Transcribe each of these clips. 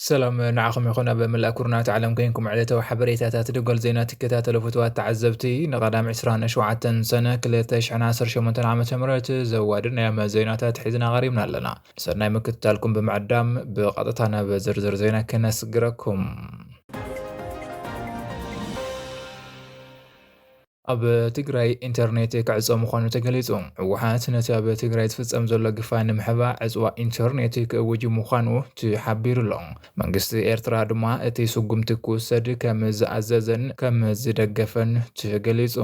ሰላም ንዓኹም ይኹን ኣብ መላእ ኩርናት ዓለም ኮይንኩም ዕለታዊ ሓበሬታታት ደጎል ዜና ትከታተሉ ፍትዋት ተዓዘብቲ ንቐዳም 27 ሰነ 218 ዓ ም ዘዋድድ ናይ ኣመ ዜናታት ሒዝና ቀሪብና ኣለና ሰናይ ምክትታልኩም ብምዕዳም ብቐጥታ ናብ ዝርዝር ዜና ክነስግረኩም ኣብ ትግራይ ኢንተርኔት ክዕፆ ምዃኑ ተገሊፁ። ህወሓት ነቲ ኣብ ትግራይ ዝፍፀም ዘሎ ግፋ ንምሕባ ዕፅዋ ኢንተርኔት ክእውጅ ምዃኑ ተሓቢሩ ኣሎ። መንግስቲ ኤርትራ ድማ እቲ ስጉምቲ ክውሰድ ከም ዝኣዘዘን ከም ዝደገፈን ተገሊፁ።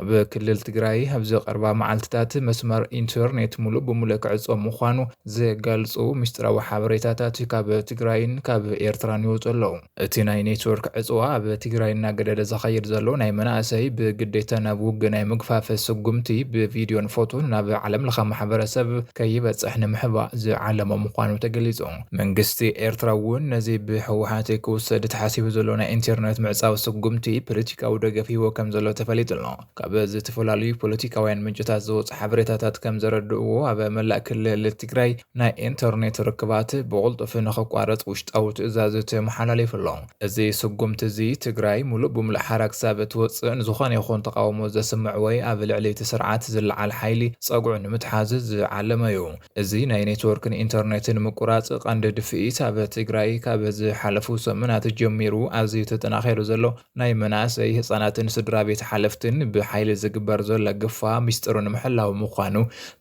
ኣብ ክልል ትግራይ ኣብዚ ቀርባ መዓልትታት መስመር ኢንተርኔት ሙሉእ ብሙሉእ ክዕጾ ምዃኑ ዝገልጹ ምስጢራዊ ሓበሬታታት ካብ ትግራይን ካብ ኤርትራን ይወጹ ኣለዉ። እቲ ናይ ኔትወርክ ዕጽዋ ኣብ ትግራይ እናገደደ ዝኸይድ ዘሎ ናይ መናእሰይ ብግዴታ ናብ ውግእ ናይ ምግፋፍ ስጉምቲ ብቪድዮን ፎቶን ናብ ዓለምለኸ ማሕበረሰብ ከይበጽሕ ንምሕባእ ዝዓለመ ምዃኑ ተገሊጹ። መንግስቲ ኤርትራ እውን ነዚ ብህወሓት ክውሰድ ተሓሲቡ ዘሎ ናይ ኢንተርነት ምዕጻው ስጉምቲ ፖለቲካዊ ደገፍ ሂቦ ከም ዘሎ ተፈሊጡ ኣሎ። ካብ ዝተፈላለዩ ፖለቲካውያን ምንጭታት ዝወጹ ሓበሬታታት ከም ዘረድእዎ ኣብ መላእ ክልል ትግራይ ናይ ኢንተርኔት ርክባት ብቕልጡፍ ንኽቋረጽ ውሽጣዊ ትእዛዝ ተመሓላሊፉ ኣሎ። እዚ ስጉምቲ እዚ ትግራይ ሙሉእ ብሙሉእ ሓራ ክሳብ እትወጽእ ንዝኾነ ይኹን ተቓውሞ ዘስምዕ ወይ ኣብ ልዕሊ እቲ ስርዓት ዝለዓል ሓይሊ ጸግዑ ንምትሓዝ ዝዓለመ እዩ። እዚ ናይ ኔትወርክን ኢንተርኔትን ምቁራፅ ቐንዲ ድፍኢት ኣብ ትግራይ ካብ ዝሓለፉ ሰሙናት ጀሚሩ ኣዝዩ ተጠናኺሩ ዘሎ ናይ መናእሰይ፣ ህፃናትን ስድራቤት ሓለፍትን ብሓይሊ ዝግበር ዘሎ ግፋ ሚስጥሩ ንምሕላው ምዃኑ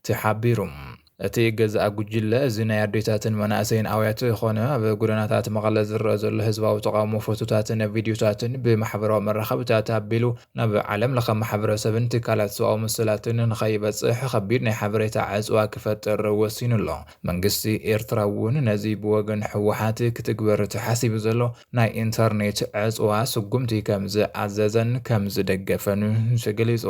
ተሓቢሩ። እቲ ገዛኢ ጉጅለ እዚ ናይ ኣዴታትን መናእሰይን ኣውያት ኾነ ኣብ ጎደናታት መቐለ ዝረኣ ዘሎ ህዝባዊ ተቓውሞ ፎቶታትን ቪድዮታትን ብማሕበራዊ መራኸብታት ኣቢሉ ናብ ዓለም ለኸ ማሕበረሰብን ትካላት ሰብኣዊ መሰላትን ንኸይበጽሕ ኸቢድ ናይ ሓበሬታ ዕጽዋ ክፈጥር ወሲኑ ኣሎ። መንግስቲ ኤርትራ እውን ነዚ ብወገን ህወሓት ክትግበር ተሓሲቡ ዘሎ ናይ ኢንተርኔት ዕጽዋ ስጉምቲ ከም ዝኣዘዘን ከም ዝደገፈን ተገሊጹ።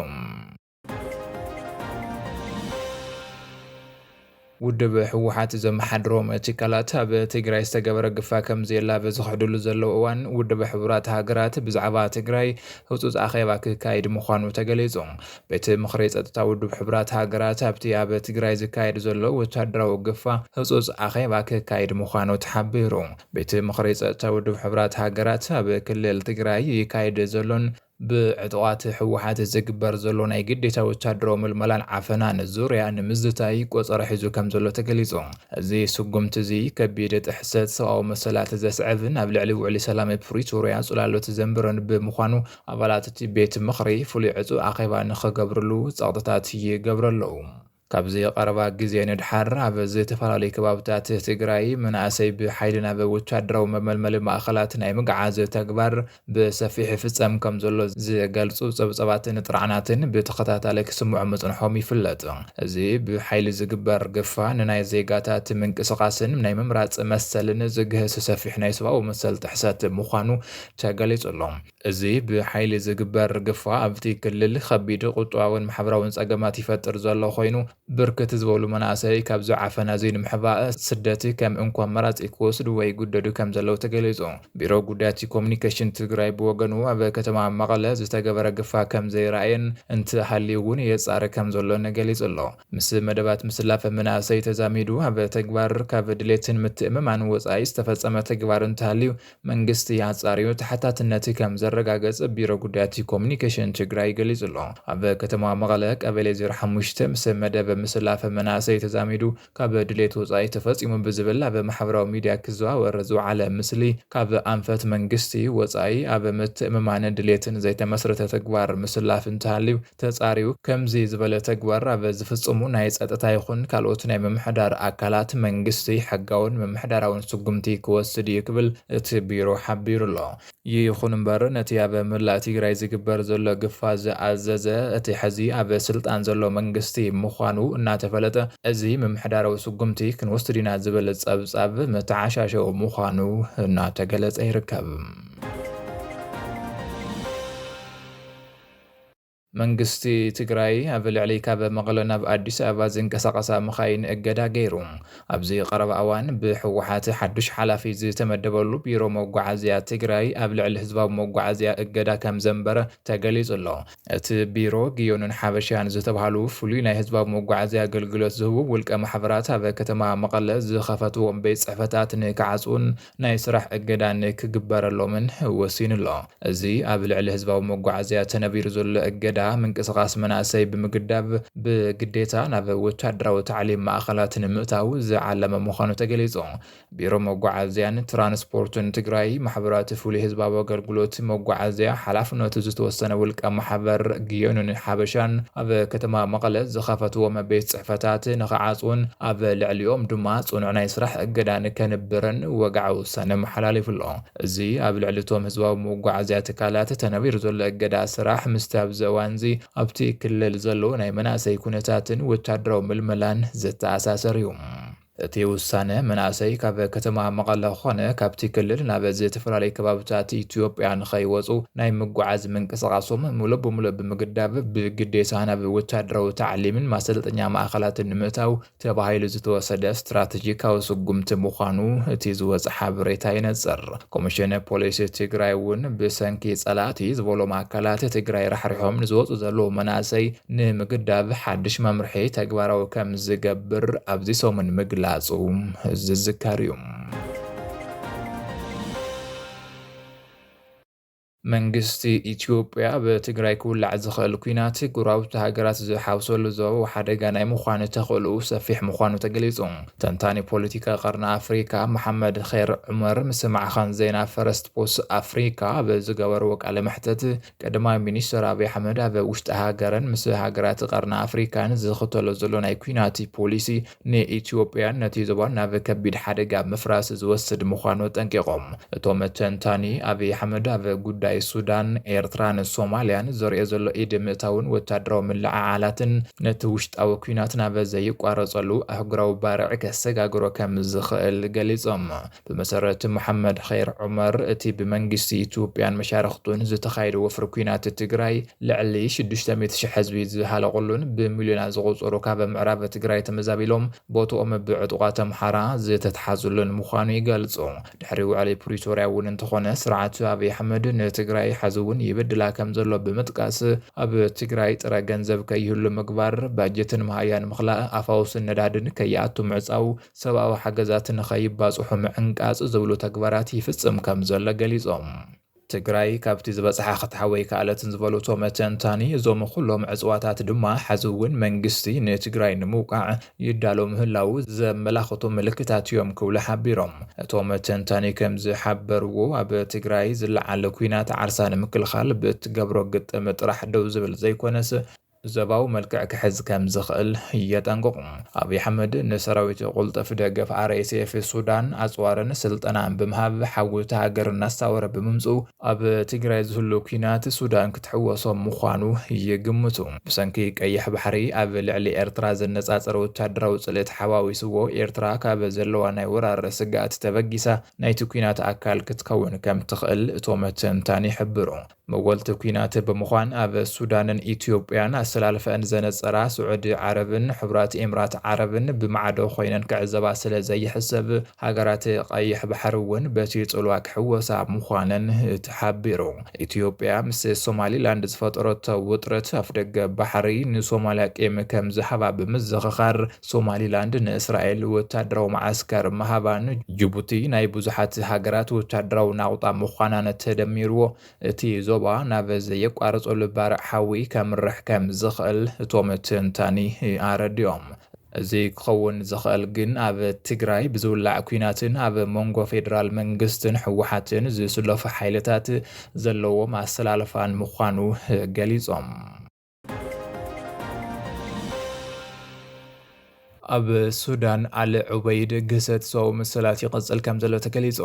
ውድብ ህወሓት ዘመሓድሮም ትካላት ኣብ ትግራይ ዝተገበረ ግፋ ከምዘየላ ኣብ ዝኽሕድሉ ዘለዉ እዋን ውድብ ሕቡራት ሃገራት ብዛዕባ ትግራይ ህፁፅ ኣኼባ ክካየድ ምዃኑ ተገሊፁ። ቤት ምኽሪ ፀጥታ ውድብ ሕቡራት ሃገራት ኣብቲ ኣብ ትግራይ ዝካየድ ዘሎ ወታደራዊ ግፋ ህፁፅ ኣኼባ ክካየድ ምዃኑ ተሓቢሩ። ቤት ምኽሪ ፀጥታ ውድብ ሕቡራት ሃገራት ኣብ ክልል ትግራይ ይካየድ ዘሎን ብዕጡቓት ህወሓት ዝግበር ዘሎ ናይ ግዴታ ወታደራዊ ምልመላን ዓፈናን ዙርያ ንምዝታይ ቆጸራ ሒዙ ከምዘሎ ተገሊጹ። እዚ ስጉምቲ'ዚ ከቢድ ጥሕሰት ሰብኣዊ መሰላት ዘስዕብን ኣብ ልዕሊ ውዕሊ ሰላም ፕሪቶርያ ጽላሎት ዘንብርን ብምዃኑ ኣባላት'ቲ ቤት ምኽሪ ፍሉይ ዕጹው ኣኼባ ንኽገብርሉ ጸቕጥታት ይገብሩ ኣለዉ። ካብዚ ቐረባ ግዜ ንድሓር ኣብ ዝተፈላለዩ ከባብታት ትግራይ መናእሰይ ብሓይሊ ናብ ወታደራዊ መመልመሊ ማእኸላት ናይ ምግዓዝ ተግባር ብሰፊሑ ይፍፀም ከምዘሎ ዝገልፁ ፀብፃባትን ጥርዓናትን ብተኸታታሊ ክስምዑ ምፅንሖም ይፍለጥ። እዚ ብሓይሊ ዝግበር ግፋ ንናይ ዜጋታት ምንቅስቓስን ናይ ምምራፅ መሰልን ዝግህስ ሰፊሕ ናይ ሰብኣዊ መሰል ጥሕሰት ምዃኑ ተገሊፁ ኣሎ። እዚ ብሓይሊ ዝግበር ግፋ ኣብቲ ክልል ኸቢድ ቁጠባዊን ማሕበራዊን ፀገማት ይፈጥር ዘሎ ኾይኑ ብርክት ዝበሉ መናእሰይ ካብዚ ዓፈና እዙይ ንምሕባእ ስደት ከም እንኮ ኣማራፂ ክወስዱ ወይ ይጉደዱ ከም ዘለው ተገሊፁ። ቢሮ ጉዳያት ኮሙኒኬሽን ትግራይ ብወገኑ ኣብ ከተማ መቐለ ዝተገበረ ግፋ ከም ዘይረኣየን እንተሃልዩ እውን የፃሪ ከም ዘሎን ገሊፁ ኣሎ። ምስ መደባት ምስላፍ መናእሰይ ተዛሚዱ ኣብ ተግባር ካብ ድሌትን ምትእምማን ወፃኢ ዝተፈፀመ ተግባር እንተሃልዩ መንግስቲ ኣፃርዩ ተሓታትነት ከም ዘረጋገፅ ቢሮ ጉዳያት ኮሙኒኬሽን ትግራይ ገሊፁ ኣሎ። ኣብ ከተማ መቐለ ቀበሌ ዜሮ ሓሙሽተ ምስ መደብ ምስላፍ መናእሰይ ተዛሚዱ ካብ ድሌት ወፃኢ ተፈፂሙ ብዝብል ኣብ ማሕበራዊ ሚዲያ ክዘዋወር ዝውዓለ ምስሊ ካብ ኣንፈት መንግስቲ ወፃኢ ኣብ ምትእምማንን ድሌትን ዘይተመስረተ ተግባር ምስላፍ እንተሃልዩ ተፃርዩ ከምዚ ዝበለ ተግባር ኣብ ዝፍፅሙ ናይ ፀጥታ ይኹን ካልኦት ናይ ምምሕዳር ኣካላት መንግስቲ ሕጋውን ምምሕዳራውን ስጉምቲ ክወስድ ኢዩ ክብል እቲ ቢሮ ሓቢሩ ኣሎ። ይኹን እምበር ነቲ ኣብ መላእ ትግራይ ዝግበር ዘሎ ግፋ ዝኣዘዘ እቲ ሕዚ ኣብ ስልጣን ዘሎ መንግስቲ ምዃኑ እናተፈለጠ እዚ ምምሕዳራዊ ስጉምቲ ክንወስድ ኢና ዝብል ፀብፃብ መተዓሻሸዊ ምዃኑ እናተገለፀ ይርከብ። መንግስቲ ትግራይ ኣብ ልዕሊ ካብ መቐለ ናብ ኣዲስ ኣበባ ዝንቀሳቐሳ መኻይን እገዳ ገይሩ። ኣብዚ ቀረባ እዋን ብህወሓት ሓዱሽ ሓላፊ ዝተመደበሉ ቢሮ መጓዓዝያ ትግራይ ኣብ ልዕሊ ህዝባዊ መጓዓዝያ እገዳ ከምዘንበረ ተገሊፁ ኣሎ። እቲ ቢሮ ግዮንን ሓበሻን ዝተብሃሉ ፍሉይ ናይ ህዝባዊ መጓዓዝያ ኣገልግሎት ዝህቡ ውልቀ ማሕበራት ኣብ ከተማ መቐለ ዝኸፈትዎም ቤት ፅሕፈታት ንክዓፅዉን ናይ ስራሕ እገዳን ክግበረሎምን ወሲኑ'ሎ። እዚ ኣብ ልዕሊ ህዝባዊ መጓዓዝያ ተነቢሩ ዘሎ እገዳ፣ ምንቅስቓስ መናእሰይ ብምግዳብ ብግዴታ ናብ ወታደራዊ ታዕሊም ማእኸላት ንምእታው ዝዓለመ ምዃኑ ተገሊፁ። ቢሮ መጓዓዝያን ትራንስፖርትን ትግራይ ማሕበራት ፍሉይ ህዝባዊ ኣገልግሎት መጓዓዝያ ሓላፍነቱ ዝተወሰነ ውልቀ ማሕበር ግዮንን ሓበሻን ኣብ ከተማ መቐለ ዝኸፈትዎም ቤት ፅሕፈታት ንኽዓፅዉን ኣብ ልዕሊኦም ድማ ጽኑዕ ናይ ስራሕ እገዳ ንከንብርን ወግዓዊ ውሳነ ኣመሓላሊፉ ኣሎ። እዚ ኣብ ልዕሊ እቶም ህዝባዊ መጓዓዝያ ትካላት ተነቢሩ ዘሎ እገዳ ስራሕ ምስቲ ኣብዚ እዋንዚ ኣብቲ ክልል ዘሎ ናይ መናእሰይ ኩነታትን ወታደራዊ ምልመላን ዝተኣሳሰር እዩ። እቲ ውሳነ መናእሰይ ካብ ከተማ መቐለ ኮነ ካብቲ ክልል ናብ ዝተፈላለዩ ከባብታት ኢትዮጵያ ንከይወጹ ናይ ምጉዓዝ ምንቅስቓሶም ሙሉእ ብሙሉእ ብምግዳብ ብግዴታ ናብ ወታደራዊ ታዕሊምን ማሰልጠኛ ማእኸላትን ንምእታው ተባሂሉ ዝተወሰደ ስትራቴጂካዊ ስጉምቲ ምዃኑ እቲ ዝወፀ ሓበሬታ የነፅር። ኮሚሽን ፖሊስ ትግራይ እውን ብሰንኪ ፀላእቲ ዝበሎም ኣካላት ትግራይ ራሕሪሖም ንዝወፁ ዘለዉ መናእሰይ ንምግዳብ ሓዱሽ መምርሒ ተግባራዊ ከምዝገብር ኣብዚ ሰሙን ምግላፁ ዝዝከር እዩ። መንግስቲ ኢትዮጵያ ኣብ ትግራይ ክውላዕ ዝኽእል ኲናት ጎረባብቲ ሃገራት ዝሓውሰሉ ዞባዊ ሓደጋ ናይ ምዃን ተኽእሎኡ ሰፊሕ ምዃኑ ተገሊጹ። ተንታኒ ፖለቲካ ቀርኒ ኣፍሪካ መሓመድኼር ዑመር ምስ ማዕኸን ዜና ፈረስት ፖስት ኣፍሪካ ኣብ ዝገበርዎ ቃለ መሕተት ቀዳማይ ሚኒስተር ኣብይ ኣሕመድ ኣብ ውሽጢ ሃገርን ምስ ሃገራት ቀርኒ ኣፍሪካን ዝኽተሎ ዘሎ ናይ ኲናት ፖሊሲ ንኢትዮጵያን ነቲ ዞባን ናብ ከቢድ ሓደጋ ምፍራስ ዝወስድ ምዃኑ ኣጠንቂቖም። እቶም ተንታኒ፣ ኣብይ ኣሕመድ ኣብ ጉዳይ ሱዳን፣ ኤርትራን ሶማልያን ዘርእዮ ዘሎ ኢድ ምእታውን ወተሃደራዊ ምልዕዓላትን ነቲ ውሽጣዊ ኲናት ናብ ዘይቋረጸሉ ኣህጉራዊ ባርዕ ከሰጋግሮ ከም ዝኽእል ገሊጾም። ብመሰረት መሓመድ ኼር ዑመር፣ እቲ ብመንግስቲ ኢትዮጵያን መሻርኽቱን ዝተኻየደ ወፍሪ ኲናት ትግራይ ልዕሊ ሽዱሽተ ሚእቲ ሽሕ ህዝቢ ዝሃለቑሉን ብሚልዮናት ዝቑፀሩ ካብ ምዕራብ ትግራይ ተመዛቢሎም ቦትኦም ብዕጡቓት ኣምሓራ ዝተትሓዙሉን ምዃኑ ይገልፁ። ድሕሪ ውዕሊ ፕሪቶርያ እውን እንተኾነ ስርዓት ኣብይ ኣሕመድ ንትግራይ ሐዚ እውን ይበድላ ከምዘሎ ብምጥቃስ ኣብ ትግራይ ጥረ ገንዘብ ከይህሉ ምግባር፣ ባጀትን መሃያን ምኽላእ፣ ኣፋውስን ነዳድን ከይኣቱ ምዕፃው፣ ሰብኣዊ ሓገዛት ንከይባፅሑ ምዕንቃፅ ዝብሉ ተግባራት ይፍፅም ከምዘሎ ገሊፆም። ትግራይ ካብቲ ዝበፅሓ ክትሓዊ ኣይከኣለትን ዝበሉ እቶም ተንታኒ፣ እዞም ኹሎም ዕፅዋታት ድማ ሐዚ እውን መንግስቲ ንትግራይ ንምውቃዕ ይዳሎ ምህላዉ ዘመላኽቱ ምልክታት እዮም ክብሉ ሓቢሮም። እቶም ተንታኒ ከምዝሓበርዎ፣ ኣብ ትግራይ ዝለዓል ኲናት ዓርሳ ንምክልኻል ብእትገብሮ ግጥም ጥራሕ ደው ዝብል ዘይኮነስ፣ ዞባዊ መልክዕ ክሕዝ ከም ዝኽእል የጠንቅቑ። ኣብይ ኣሕመድ ንሰራዊቱ ቅልጡፍ ደገፍ RSF፣ ሱዳን፣ ኣጽዋርን ስልጠናን ብምሃብ ሓዊ እታ ሃገር እናሳወረ ብምምጽኡ ኣብ ትግራይ ዝህሉ ኲናት ሱዳን ክትሕወሶ ምዃኑ ይግምቱ። ብሰንኪ ቀይሕ ባሕሪ ኣብ ልዕሊ ኤርትራ ዝነጻጸር ወተሃደራዊ ጽልኢ ተሓዋዊስዎ ኤርትራ ካብ ዘለዋ ናይ ወራር ስግኣት ተበጊሳ ናይቲ ኲናት ኣካል ክትከውን ከም ትኽእል እቶም ተንታኒ ይሕብሩ። መወልቲ ኲናት ብምዃን ኣብ ሱዳንን ኢትዮጵያን ኣሰላልፈኣን ዘነጸራ ስዑዲ ዓረብን ሕቡራት ኤምራት ዓረብን ብማዕዶ ኮይነን ክዕዘባ ስለ ዘይሕሰብ፣ ሃገራት ቀይሕ ባሕሪ እውን በቲ ጽልዋ ክሕወሳ ምዃነን ተሓቢሩ። ኢትዮጵያ ምስ ሶማሊላንድ ዝፈጠረቶ ውጥረት ኣፍደገ ባሕሪ ንሶማልያ ቂም ከም ዝሃባ ብምዝኽኻር፣ ሶማሊላንድ ንእስራኤል ወታደራዊ መዓስከር ምሃባ ንጅቡቲ ናይ ብዙሓት ሃገራት ወታደራዊ ናቑጣ ምዃናን ተደሚርዎ እቲ ዞባ ናብ ዘየቋርጸሉ ባርዕ ሓዊ ከምርሕ ከም ዝኽእል እቶም ተንታኒ ኣረዲኦም። እዚ ክኸውን ዝኽእል ግን ኣብ ትግራይ ብዝውላዕ ኲናትን ኣብ መንጎ ፌደራል መንግስትን ህወሓትን ዝስለፉ ሓይልታት ዘለዎም ኣሰላልፋን ምዃኑ ገሊጾም። ኣብ ሱዳን ኣል ዑበይድ ግህሰት ሰው መሰላት ይቐጽል ከም ዘሎ ተገሊጹ።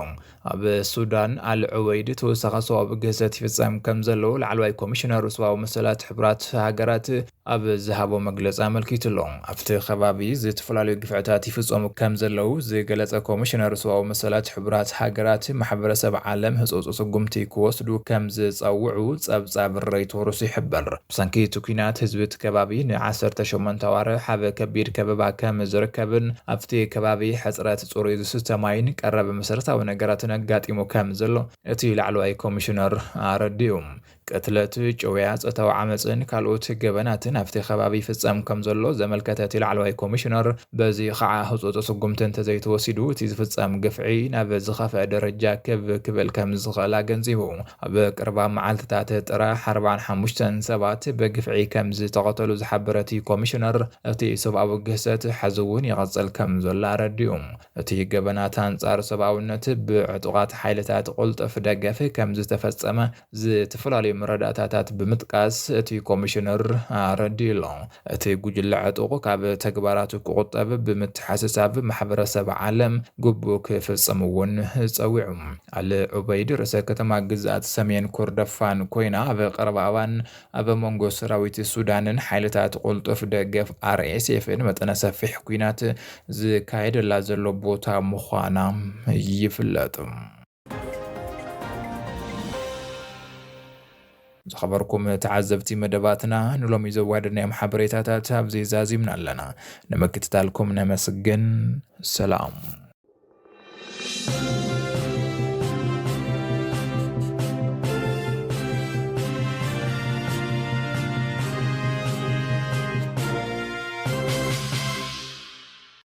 ኣብ ሱዳን ኣል ዑበይድ ተወሳኺ ሰዋዊ ግህሰት ይፍጸም ከም ዘሎ ላዕለዋይ ኮሚሽነር ሰብኣዊ መሰላት ሕቡራት ሃገራት ኣብ ዝሃቦ መግለጺ ኣመልኪቱ ኣሎ። ኣብቲ ከባቢ ዝተፈላለዩ ግፍዕታት ይፍፀሙ ከምዘለዉ ዝገለፀ ኮሚሽነር ሰብኣዊ መሰላት ሕቡራት ሃገራት ማሕበረሰብ ዓለም ህፁፅ ስጉምቲ ክወስዱ ከምዝፀውዑ ፀብፃብ ረይቶርስ ይሕብር። ብሰንኪ እቲ ኲናት ህዝቢ እቲ ከባቢ ን ዓሰርተ ሸሞንተ ኣዋርሕ ኣብ ከቢድ ከበባ ከምዝርከብን ኣብቲ ከባቢ ሕፅረት ፅሩይ ዝስተ ማይን ቀረብ መሰረታዊ ነገራትን ኣጋጢሙ ከምዘሎ እቲ ላዕለዋይ ኮሚሽነር ኣረዲኡ። ቅትለት፣ ጭውያ፣ ጾታዊ ዓመጽን ካልኦት ገበናትን ኣብቲ ከባቢ ይፍጸም ከምዘሎ ዘመልከተ እቲ ላዕለዋይ ኮሚሽነር፣ በዚ ኸኣ ህጹጽ ስጉምቲ እንተዘይተወሲዱ እቲ ዝፍጸም ግፍዒ ናብ ዝኸፍኣ ደረጃ ክብ ክብል ከምዝኽእል ኣገንዚቡ። ኣብ ቀረባ መዓልትታት ጥራሕ ኣርብዓን ሓሙሽተን ሰባት ብግፍዒ ከምዝተቐተሉ ዝሓበረ እቲ ኮሚሽነር፣ እቲ ሰብኣዊ ግህሰት ሕዚ'ውን ይቕጽል ከምዘሎ ኣረዲኡ። እቲ ገበናት ኣንጻር ሰብኣውነት ብዕጡቓት ሓይልታት ቅልጡፍ ደገፍ ከምዝተፈጸመ ዝተፈላለዩ መረዳእታታት ብምጥቃስ እቲ ኮሚሽነር ኣረዲኡ'ሎ። እቲ ጉጅለ ዕጡቕ ካብ ተግባራቱ ክቑጠብ ብምትሓስሳብ ማሕበረሰብ ዓለም ግቡኡ ክፍፅም እውን ፀዊዑ። ኣል ዑበይድ ርእሰ ከተማ ግዝኣት ሰሜን ኮርደፋን ኮይና ኣብ ቀረባ እዋን ኣብ መንጎ ሰራዊት ሱዳንን ሓይልታት ቁልጡፍ ደገፍ ኣርኤስኤፍን መጠነ ሰፊሕ ኲናት ዝካየደላ ዘሎ ቦታ ምዃና ይፍለጥ። ዝኸበርኩም ተዓዘብቲ መደባትና ንሎሚ ዘዋደናዮም ሓበሬታታት ኣብዚ ዛዚምና ኣለና። ንምክትታልኩም ነመስግን። ሰላም